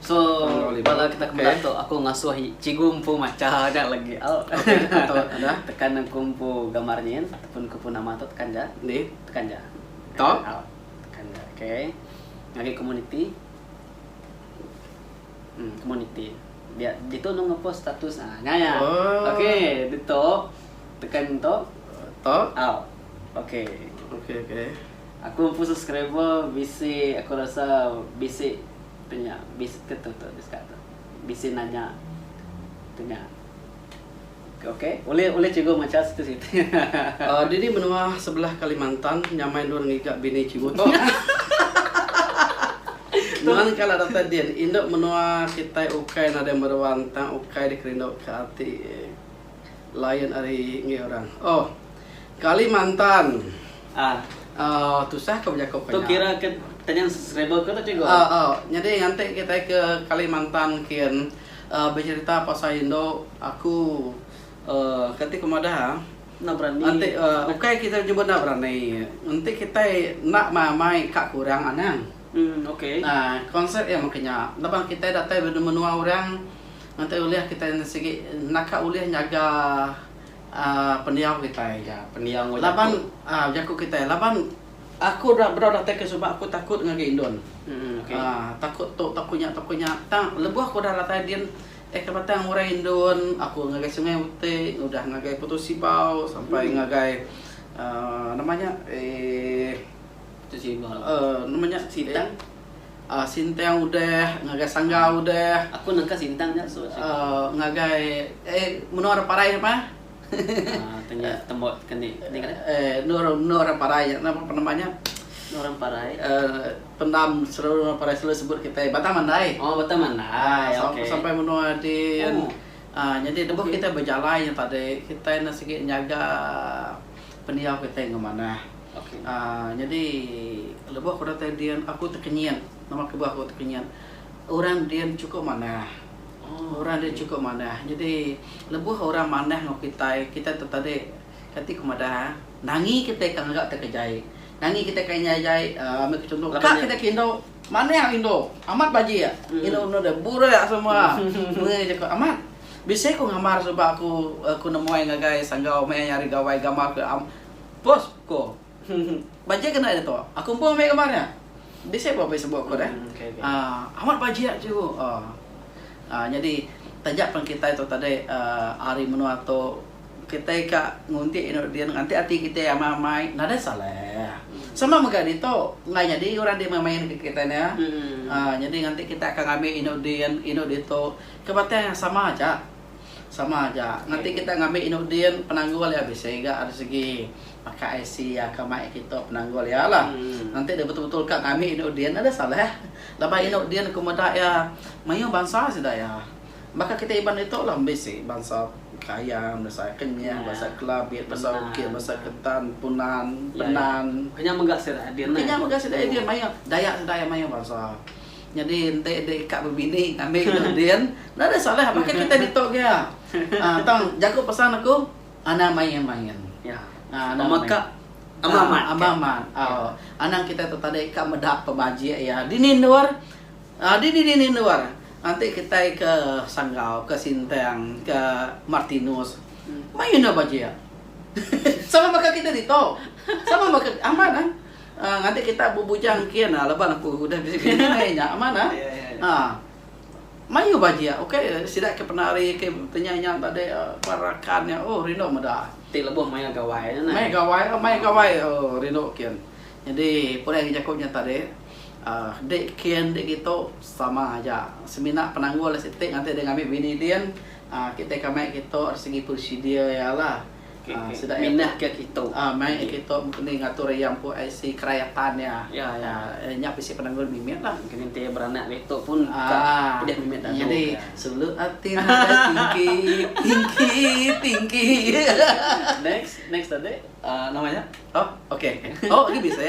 So bala kita kemedah tu aku ngasuh cikgu empu macha aja lagi. Oh. Okay. Atau ada tekan aku empu gambar nyin ataupun aku pun nama tu tekan ja. Ni tekan ja. To. Oh. Tekan ja. Okay. Ngagi community. Hmm, community. Dia ditu nang ngepost status ah. Nya ya. Oh. Okay, ditu tekan tu. To. Oh. Okay. Okay, okay. Aku empu subscriber bisi aku rasa bisi tanya bisi ke tu tu diska tu bisi nanya tanya ok ulih ulih cikgu macha situ situ. Dini menua sebelah Kalimantan nyamai endor ngiga bini cikgu tu. Nuan kala datai din. Indu menua kitai ukai nadai meruan tang ukai dikerinduka ati. Layan ari enggai orang. Oh. Kalimantan. Ah. Oh, tusah ke bejako ke nya. Tu kira ke tenyan subscriber ke tu cikgu? Ah, oh. Nyadi nganti kitai ke Kalimantan kin uh, becerita pasal indu aku uh, kati ku madah ah. Enda berani. Enti uh, ukai kita nyebut enda berani. Enti kitai enda mai-mai ka kurang anang. Hmm, okey. Nah, konsep iya meh ke nya. Laban kitai datai benua orang Nganti ulih kitai sigi naka ulih nyaga pendiau kitai. Ya, pendiau enggau jaku. Laban, aa, jaku kitai. Laban aku rak bedau datai ke suba aku takut ngagai indon. Mm, okey. Aa, takut tu, takut nya, takut nya. Tang lebuh aku udah datai din, eh ke batang murai indon, aku ngagai Sungai Utik, udah ngagai Putus Sibau sampai mm. ngagai aa, nama nya, ee, Putus Sibau. Aa, nama nya, Sitang. A. Sintang udah ngagai sangga udah. Aku nangka sintang nya so chik. Uh, ngagai eh menua orang parai apa? uh, tanya tembo tekan ni. Ni kan? Eh, menua menua orang parai nya napa penama nya? Orang parai. Uh, pendam seluruh orang parai selalu sebut kita Batang Mandai. Oh, Batang Mandai. Uh, okay. Sampai menua di oh. uh, jadi debu okay. kita berjalan yang tadi kita nak sikit nyaga pendiau kita yang mana. Nyadi lebuh aku datai Dian, aku tekenyit. Nama kebuah aku tekenyit? Orang Dian chukup manah. Orang Dian chukup manah. Nyadi lebuh orang manah enggau kitai, kitai tu tadi kati ku madah eh, nangi kitai ka ngaga kita kejai. Nangi kitai ka indai jai uhh ambil ku chunto, ka kitai ke indu, manah indu. Amat bajik indu enda deh, burak semua. Meri je ku amat, bisi ku ngambar suba aku nemuai ngagai sanggau meh ari gawai gambar ku am. Bos, ko. Bajik ke enda iya tu? Aku empu ambil gambar nya. Bisi pula pis buk ko deh. Aaa, amat bajik cikgu. Aaa. Nyadi taja pen kitai tu tadi aaa ari menua tu kitai ka ngunti inu din nganti ati kitai amai-amai nadai salah. Sama mega ditu, enggai nyadi orang di meh main ngagai kitai nya. Aaa nyadi nganti kitai akan ngambi inu din, inu ditu ke batang sama aja. Sama aja. Ngati kita ngambi inu din penanggul iya bisi ga ari segi pakai IC iya ka mai kita penanggul iya la. Ngenti dia betul-betul ka ngambi inu din ada salah. Laban inu din ku meda iya mayuh bansa sida iya. Baka kita Iban ditu la bisi bansa Kayan, bansa Kenyah, bansa Kelabit, bansa Ukip, bansa Ketan, Punan, Penan. Kenyah mega sida idin mayuh. Dayak sida iya mayuh bansa. Nyadi enti deh ka bebini ngambi enda din, enda deh salah baka kitai ditu ke iya. Aa tang jaku pesan aku anang main main. Ya. Aa anang main. Pemeka ama amat. Aa ama amat. Au anang kitai tu tadi ka meda pemajik iya dini endur aa dini dini endur enti kitai ke Sanggau, ke Sintang, ke Martinus main endur bajik. Sama baka kitai ditu. Sama baka amat nah. Ngati kita bebujang engkin ah laban aku udah bisi bini meh nya amat ah. Ah. Mayuh bah jia ukai sida ke penari ke penyai nya tadi ba rakan nya oh rindu meda. Ti lebuh maya gawai nya neh. Maya gawai oh maya gawai oh rindu kin. Nyadi pulai ngagai jaku nya tadi ah di kin di ditu sama aja semina penanggul siti ngati deh ngambi bini din ah kitai ke amai kitu segi prosedur iya lah. minahka kitu. Ah mai kitu mengkeni ngatur iya empu IC kerayatan iya. Ah nya bisi penanggul mimit lah. Mengkeni enti iya beranak ditu pun ka pedih mimit dagu. Nyadi sulu ati nadai tingki tingki tingki. Next next tadi. Ah nama nya. Oh okay. Oh agi bisi.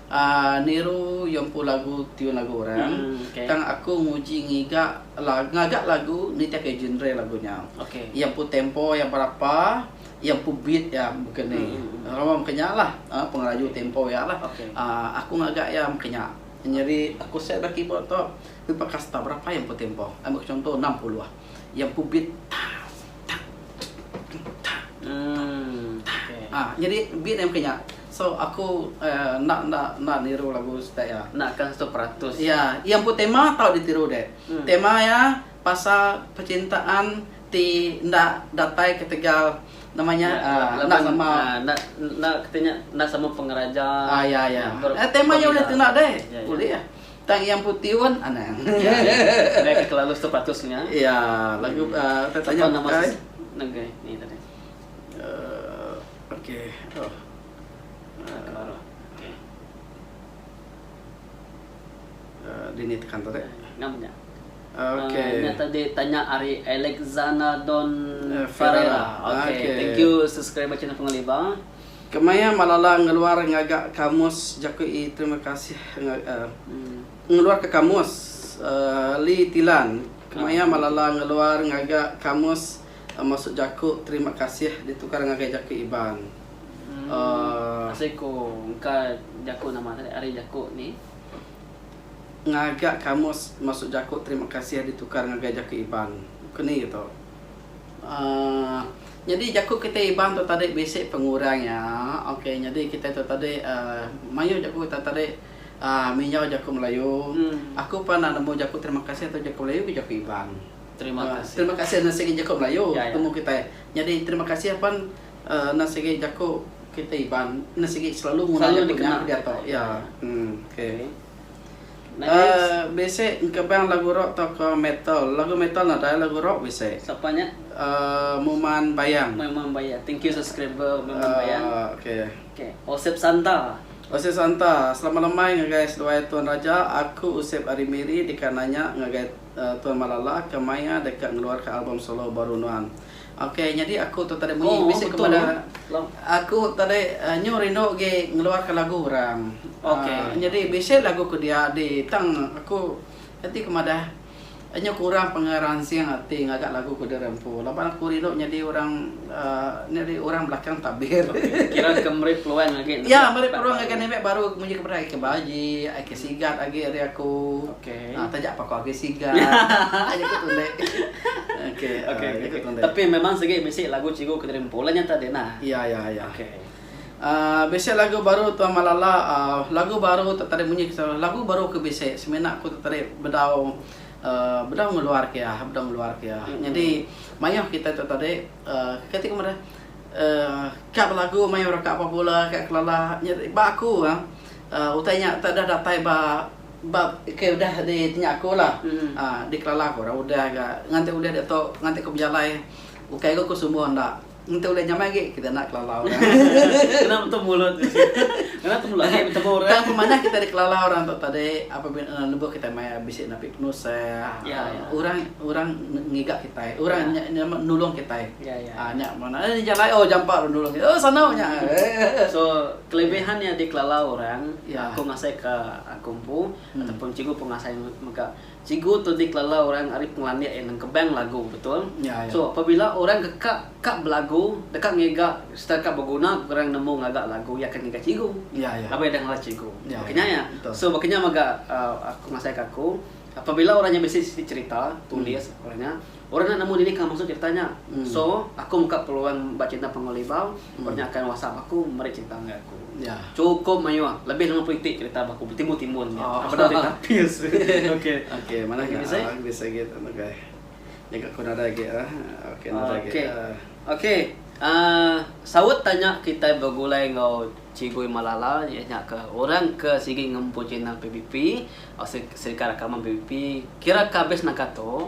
Niru iya empu lagu tiun lagu orang tang aku nguji ngiga ngaga lagu nitihka genre lagu nya. Iya empu tempo iya berapa, iya empu beat iya baka ni. Lalu maka nya lah pengeraju tempo iya lah. Aku ngaga iya maka nya. Nyadi aku set ba keyboard tu aku paka star berapa iya empu tempo. Ambil ku chunto enam puluh. Iya empu beat tang tang tang tang tang tang. Nyadi beat iya maka nya. So aku enda enda enda niru lagu style iya. Enda kah tu peratus. Iya, iya empu tema tau ditiru deh. Tema iya pasal pecintaan ti enda datai ketegal nama nya enda sama enda enda kita nya enda sama pengeraja. Ah iya iya. Tema iya ulih tuna deh. Ulih ah. Tang iya empu tiun anang. Iya iya. Enda kelalu tu peratus nya. Iya, lagu tanya nama ni tadi. Kemaya Malala ngeluar ngaga kamus jaku i terima kasih ngeluar ka kamus Lee Tilan Kemaya Malala ngeluar ngaga kamus Masuk jaku terima kasih ditukar ngagai jaku Iban. Uhh. Asai ko engka jaku nama tadi ari jaku ni. Ngaga kamus masuk jaku terima kasih ditukar ngagai jaku Iban. Ko ni gitu. Uhh. Nyadi jaku kitai Iban tu tadi bisi pengurang iya. Ok nyadi kitai tu tadi uhh mayuh jaku kitai tadi uhh minjau jaku melayu. Aku pernah nemu jaku terima kasih tu jaku melayu ku jaku Iban. Terima kasih enda sigi jaku melayu temu kitai nyadi terima kasih apan enda sigi jaku kitai iban enda sigi selalu nguna jaku nya ke diatu iya okay bisi engkebang lagu rock tauka metal lagu metal nadai lagu rock bisi muman bayang okay osip santa selamat lemai ngagai seduai tuan raja aku osip ari miri deka nanya ngagai. Tuan Malala ke maia deka ngeluarka album solo baru nuan. Ok nyadi aku tu tadi munyi bisi ke meda aku tadi nyu rindu agi ngeluarka lagu orang. Nyadi bisi lagu ke dia di tang aku enti ku madah nyu kurang pengeransing ati ngaga lagu ke diri empu laban aku rindu nyadi orang. Nya deh orang belakang tabir. Kira ke meri peluang agi nembiak. Ya meri peluang agi nembiak baru mujur kepada ai ke baji, ai ke sigat agi ari aku. Okey. Ah taja pako agi sigat. Aja ku tunde. Okey. Okey. Tapi memang sigi bisi lagu cikgu ke diri empu lah nya tadi nah. Ya ya ya. Okey. Ah bisi lagu baru tuan Malala ah lagu baru tu tadi munyi lagu baru ke bisi semina ku tu tadi bedau bedau ngeluar ke iya, bedau ngeluar ke iya. Nyadi mayuh kitai tu tadi uhh kati ku madah uhh ka belagu mayuh orang ka papu bola, ka kelala. Nyadi ba aku uhh utai nya enta deh datai ba ba ke udah di ti nya aku lah uhh di kelala ku orang udah ga nganti ulih diatu nganti ku bejalai ukai ku aku sumbu enda. Enti ulih nyamai agi kita enda kelala orang. Kena metu mulut tu sik. Kena temulak agi betemu orang. Tang pemanah kita dikelala orang tu tadi apabila lebuh kita mai bisi napi penusah. Ya, ya. Orang orang ngiga kita. Orang ya. nya nulung kita. Ya, ya. Ah nya mana eh jalai oh jampa ru nulung kita. Oh sanau nya. So kelebihan ya. nya dikelala orang ya. aku ngasai ka aku empu hmm. ataupun cikgu pun ngasai mega Cikgu tu dikelala orang ari pengelandik iya nengkebang lagu betul. So apabila orang ke ka ka belagu deka ngiga sereta ka beguna ke orang nemu ngaga lagu iya akan ngiga cikgu laban iya deh ngalas cikgu. Baka nya iya. So baka nya mega aku ngasai ka aku apabila orang nya bisi siti cerita tulis baka nya. Orang enda nemu diri ka maksud ti betanya. So, aku muka peluang ba channel Panggul Libau, orang nya akan whatsapp aku meri cherita ngagai aku. Chukup mayuh, lebih lima puluh iti cherita ba aku betimbul-timbul nya. Bendar ti tapis. Ok, mana lagi bisi? Bisi lagi tu ngagai. Nyengka aku nadai lagi ah. Ok, nadai lagi ah. Ok, uhh saut tanya kitai begulai enggau Chigu Iman Lala iya nya ke orang ke sigi ngempu channel PBP, Serika Rakaman PBP, kira ka habis naka tu,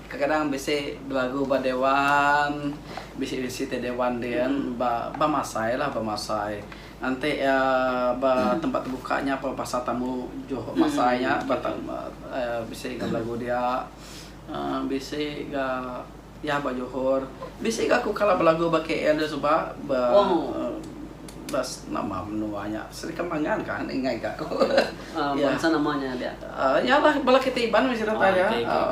Kadang-kadang bisi dua agu ba dewan, bisi bisi ti dewan din ba ba masai lah ba masai. Enti ia ba tempat tebuka nya pa pasal tamu juho masai nya ba ta aaa bisi ga belagu dia aaa bisi ga iya ba johor. Bisi ga ku kala belagu ba KL dia suba ba aaa. Bas nama menua nya Serikam Mangan kah enda ingai ka aku. Bansa nama nya dia? Nya lah bala kitai Iban meh sereta iya.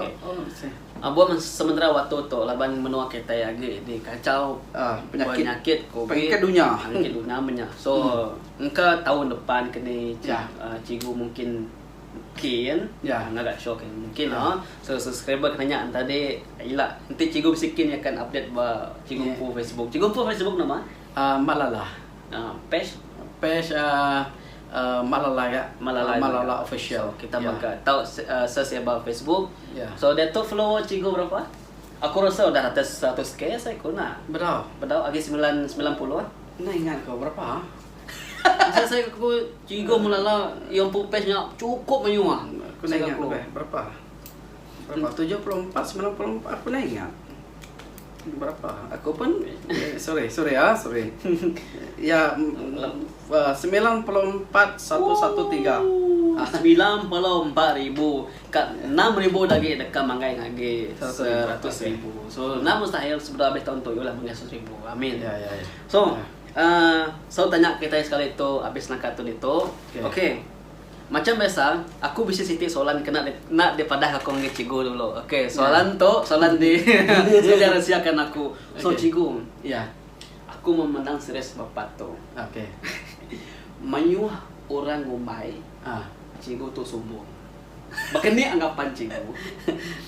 Abuh meh sementera waktu tu laban menua kitai agi di kacau penyakit covid pengikut dunya menya so engka taun depan keni cikgu mungkin kin ngaga show ke mungkin la so subscriber ke nanya enti ila enti cikgu bisi kin akan update ba cikgu empu facebook cikgu empu facebook nama? Malala page page malala ga malala official kita mega tau search eba facebook so diatu follower cikgu berapa aku rasa udah atas seratus k asai ku na bedau bedau agi semilan semilan puluh enda ingat ko berapa asai asai ku cikgu malala yang empu page nya cukup menyua ku enda ingat berapa berapa tujuh puluh empat semilan puluh empat ku enda ingat. Berapa? Aku pun sorry sorry ah sorry. Ya semilan puluh empat satu satu tiga. Semilan puluh empat ribu ka enam ribu dah agi deka manggai ngagi seratus ribu. So enda mustahil sebedau abis taun tu yu lah manggai seratus ribu. Amin. So tanya kitai sekali tu abis naka tu ditu. Okay. Macam biasa, aku bisi siti soalan kena di enda di padahka aku ngagai cikgu dulu. Okey, soalan tu soalan di sida resia kan aku. So cikgu, iya. Aku meh mendang series Bapat tu. Okey. Mayuh orang ngumbai ah cikgu tu sumbung. Baka ni anggapan cikgu?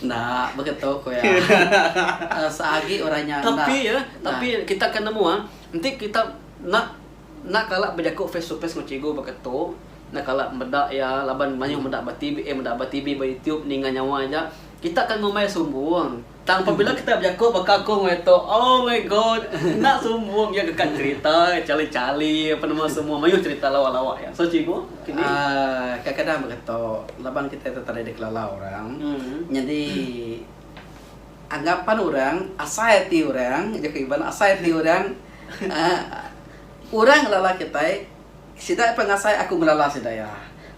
Enda, baka tu ku iya. Seagi orang nya enda. Tapi iya, tapi kita akan nemu ah, enti kita enda Enda kala bejaku face to face enggau cikgu baka tu, enda kala meda iya laban mayuh meda ba TV eh meda ba TV ba YouTube ninga nyawa aja. Kita akan ngumbai sumbung tang pabila kita bejaku baka aku enggau iya tu, oh my god enda sumbung iya deka cerita chali-chali apa nama semua mayuh cerita lawa-lawa iya. So cikgu kini. Aaa kadang-kadang baka tu laban kita tu tadi dikelalau orang nyadi. Anggapan orang, asai ati orang, jaku Iban, asai ati orang, orang ngelala kitai, sida pun ngasai aku ngelala sida iya.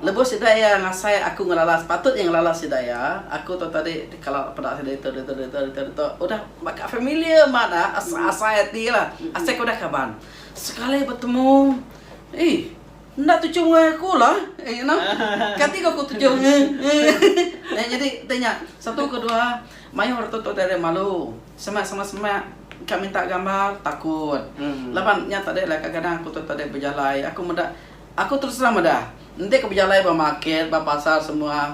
Lebuh sida iya ngasai aku ngelala sepatut iya ngelala sida iya, aku tu tadi dikala peda sida ditu ditu ditu ditu ditu udah baka familiar mah da, asai ati lah, asai ke udah kaban. Sekali betemu, ih. Enda tuju enggau aku lah. Eh, you know. Kati ke aku tuju. eh, jadi, tanya. Satu ke dua. Mayuh orang tutu dari malu. Semak, semak, semak. Kak minta gambar, takut. Hmm. Laban, nya tadi lah kadang-kadang aku tutu dari bejalai. Aku meda, aku terus terang meda. Enti aku bejalai ba market, ba pasar semua.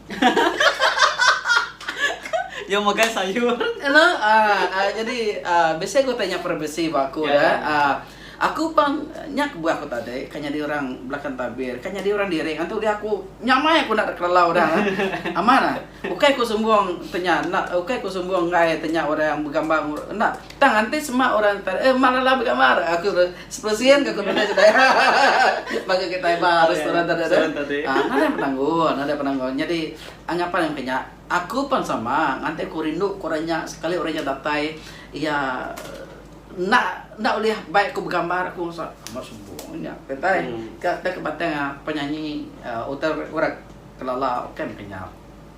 Iya megai sayur. Hello. Uh, uh, jadi uh, biasa aku tanya privacy ba aku yeah. dah. Uh, aku pang nya kebuah aku tadi kan jadi orang belakang tabir kan jadi orang diri kan tu dia aku nyamai aku nak kelalau dah ha? aman ah ukai aku sombong tanya nak ukai aku sombong ngai tanya orang yang bergambar nak tang nanti semak orang tar eh malala bergambar aku Sepersien ke kemina ke daya baka kitai ba restoran tadi tu. Nadai penanggul, nadai penanggul. Nyadi angapan aku nya, aku pan sama ngatai ku rindu ku orang nya sekali orang nya datai iya enda enda ulih baik ku begambar aku rasa amat sombong nya kitai ka batang penyanyi utai orang Kelala bukan ke nya.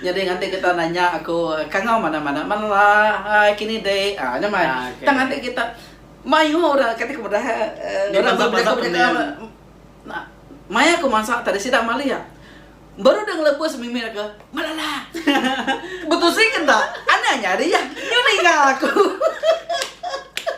Nyadi nganti kita nanya aku kangau mana-mana mela ai kini di ah nya mai. Tang ati kita mayuh orang kati ku meda orang meh bejaku bejaku nah maya ku mansa tadi sida malih ah baru deh ngelebus mimit aku melala betusi ke enda ane nyadi ah nyu ninga aku.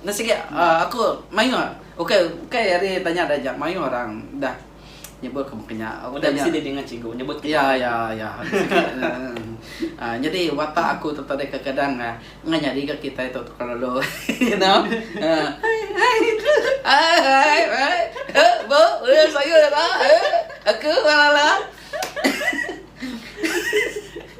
Enda sigi aku mayuh ukai ukai ari tanya da aja mayuh orang dah nyebut ke maka nya. Udah bisi diri ngan cikgu nyebut ke maka nya. Ya ya ya. Nyadi watak aku tu tadi kekadang enda nyadi ga kitai tu tukar lalu you know. Hai hai hai hai hai. Ba ba sayur ira. Aku ba lala.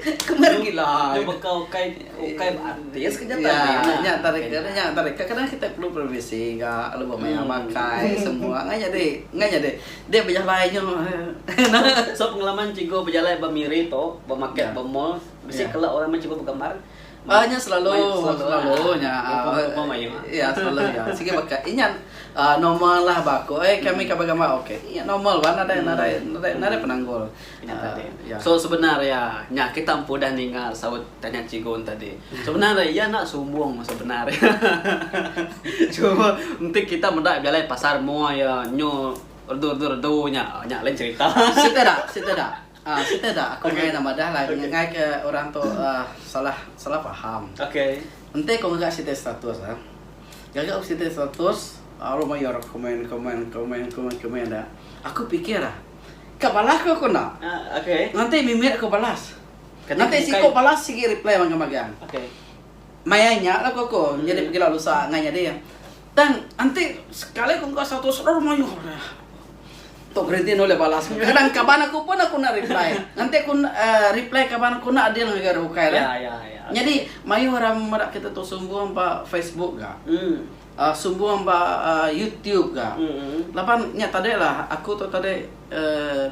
Kemari gila. Nya baka ukai ukai beartis ke nyata ya, nya nya tadi ke nya tadi ke kadang kita perlu privacy ga lebuh maya makai semua ngai nyadi ngai nyadi dia bejalai nyu. So pengalaman cikgu bejalai ba miri tu ba market ba mall bisi kala orang meh cikgu begambar. Ba nya selalu selalu nya ya selalu ya sikit baka inya uh, normal lah ba aku eh kami hmm. kabar gambar okey inya normal ba nadai hmm. nadai nadai nadai penanggul inya uh, tadi ya. so sebenarnya nya kita empu dah ninga saut tanya cikgu tadi hmm. sebenarnya ia nak sumbung sebenarnya cuma nanti kita meda bialai pasar mua ya nyu redu redu redu nya nya lain cerita cerita dah cerita dah Ah siti da aku meh nak madah lah ngengai ke orang tu ah salah salah paham. Enti ku mega siti status ah gaga ku siti status aru mayuh orang komen komen komen komen komen da aku pikir ah ka balas ku aku enda nganti mimit aku balas. Nganti siku balas sigi reply magang magang. Maya nya lagu aku nyadi pegila lusa ngai nyadi tang enti sekali ku engka satu sror mayuh dah. Tu gerinti nulis balas ku. Kadang kaban aku pun aku enda reply. Enti ku reply kaban aku enda adil ngagai orang bukai lah. Nyadi mayuh orang meda kita tu sumbung ba facebook ga. Sumbung ba youtube ga. Laban nya tadi lah aku tu tadi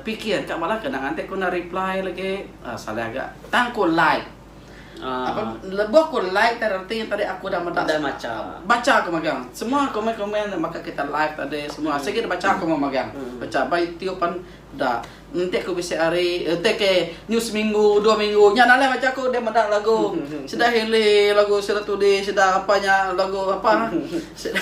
fikir ka bala ke nang enti ku enda reply lagi salah ga tang ku like. Apan lebuh aku like tadi reti tadi aku udah meda udah macha. Bacha aku megang. Semua komen-komen da baka kita live tadi semua hmm. sigi dibacha aku mau megang. Hmm. Bacha ba itu pan da enti aku bisi hari enti ke new seminggu dua minggu nya dalam bacha aku dia meda lagu hmm, hmm, hmm. sida hele lagu sida tudi sida apa nya lagu apa sida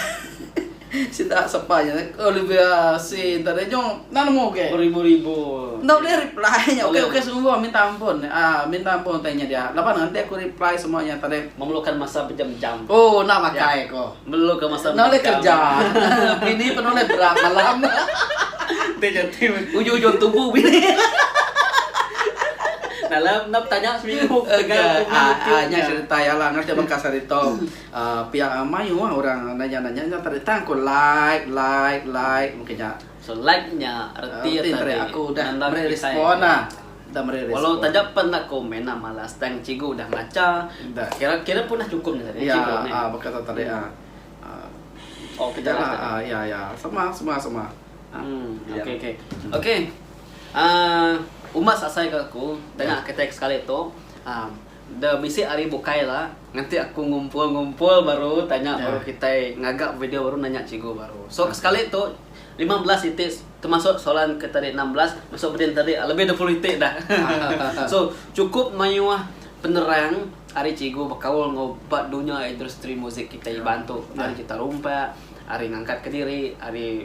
Sida sapa nya nek Olivia Sri enda deh nyong enda nemu uke. Beribu-ribu. Enda ulih reply nya uke uke sungguh minta ampun aaa minta ampun utai nya dia laban nanti aku reply semua nya tadi. Memerlukan masa bejam-jam. Oh enda makai ko. Memerlukan masa bejam-jam. Enda ulih kerja. Bini pun enda ulih berat malam. Enti nya ti ujung-ujung tubu bini. Dalam enda betanya seminggu. Ega aaa nya serita iya lah ngati baka sehari tu. Pia amai uah orang nanya-nanya nya tadi tang aku like like like mungkin nya. So like nya reti tadi aku udah meri respond la. Udah meri respond. Walau taja pen enda aku meh enda malas tang cikgu udah ngacha. Kira kira pun dah cukup nya tadi cikgu meh. Ya baka tu tadi ah. Oke kita lah ah ya ya sama sama sama. Oke oke. Oke. Ah umbas asai ke aku danga ke teks sekali tu ah. Da bisi ari bukai la nganti aku ngumpul ngumpul baru tanya baru kitai ngaga video baru nanya cikgu baru so sekali tu lima belas iti temasuk soalan ke tadi enam belas masuk beding tadi lebih dua puluh iti dah so cukup mayuh penerang ari cikgu bekaul enggau ba dunya industri muzik kitai iban tu ari jita rumpa ari ngangkat kediri ari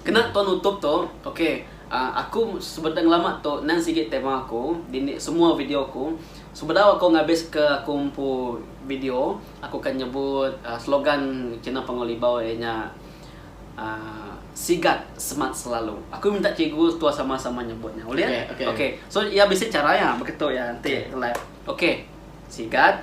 Kena tau nutup tu ok ahh aku sebeda ngelama tu nan sigi tema aku dini semua video aku sebedau aku ngabis ke aku empu video aku akan nyebut slogan kina Panggau Libau iya nya ahh sigat semat selalu aku minta cikgu tua sama sama nyebut nya ulih ok so iya bisi chara iya baka tu iya enti live ok sigat.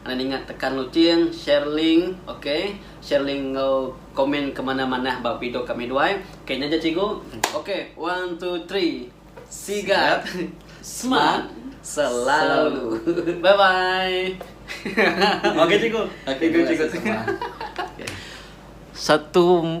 Anang ninga tekan luting share link ok share link enggau komen ke manah manah ba video kami duai ok nyaja cikgu ok one two three sigat smart selalu bye bye ok cikgu thank you cikgu satu.